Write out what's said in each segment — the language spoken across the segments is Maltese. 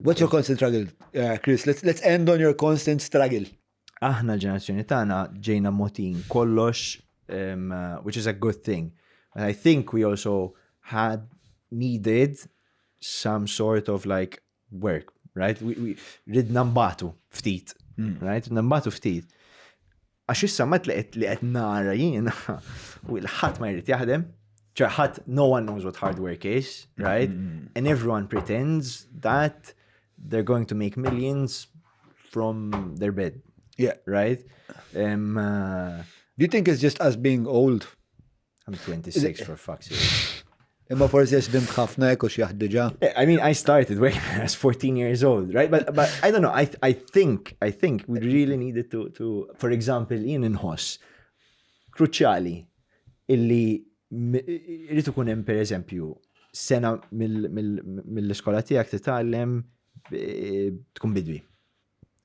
What's your constant struggle, uh, Chris? Let's, let's end on your constant struggle. Aħna l-ġenerazzjoni tagħna ġejna motin kollox, um, uh, which is a good thing. And I think we also had needed some sort of like work, right? We, we ridna mbatu ftit, mm. right? Ridna mbatu ftit. Għax issa ma tleqet li qed nara jiena u l-ħadd ma jrid jaħdem, ċe ħadd no one knows what hard work is, right? Mm-hmm. And everyone pretends that they're going to make millions from their bed. Yeah. Right? Um, uh, Do you think it's just us being old? I'm 26 for fuck's sake. Imma forsi għax bimt ħafna ekku xjaħdiġa. Eh, I mean, I started when I was 14 years old, right? But, but I don't know, I, I think, I think we really needed to, to for example, jien inħoss kruċjali illi rritu ikun hemm per eżempju sena mill-iskola tiegħek titgħallem eh, tkun bidwi.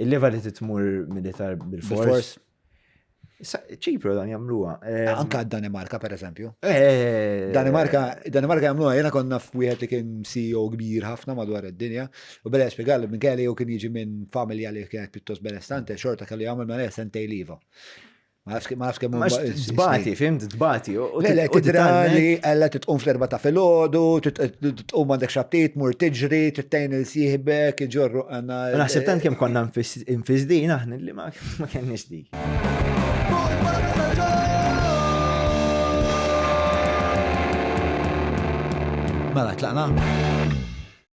Il-leva li titmur militar bil-fors. ċipru dan jamluwa. Eh, anka Danimarka, per eżempju. Eh. Danimarka, Danimarka jamluwa, jena konna f'wieħed li kien CEO kbir ħafna madwar id-dinja, u bella spiegalli minn kelli u kien jiġi minn familja li kienet pittos benestante, xorta kelli għamil ma' sentej liva. Ma nafx kemm huma. Tbati, fimt, tbati. Lele, tidra li għalla titqum fl-erba ta' filgħodu, titqum għandek xattit, mur tiġri, tittejn il-sieħbek, iġorru għanna. Naħseb tant kemm konna nfizdin aħna li ma kenniex dik. Mela, tlaqna?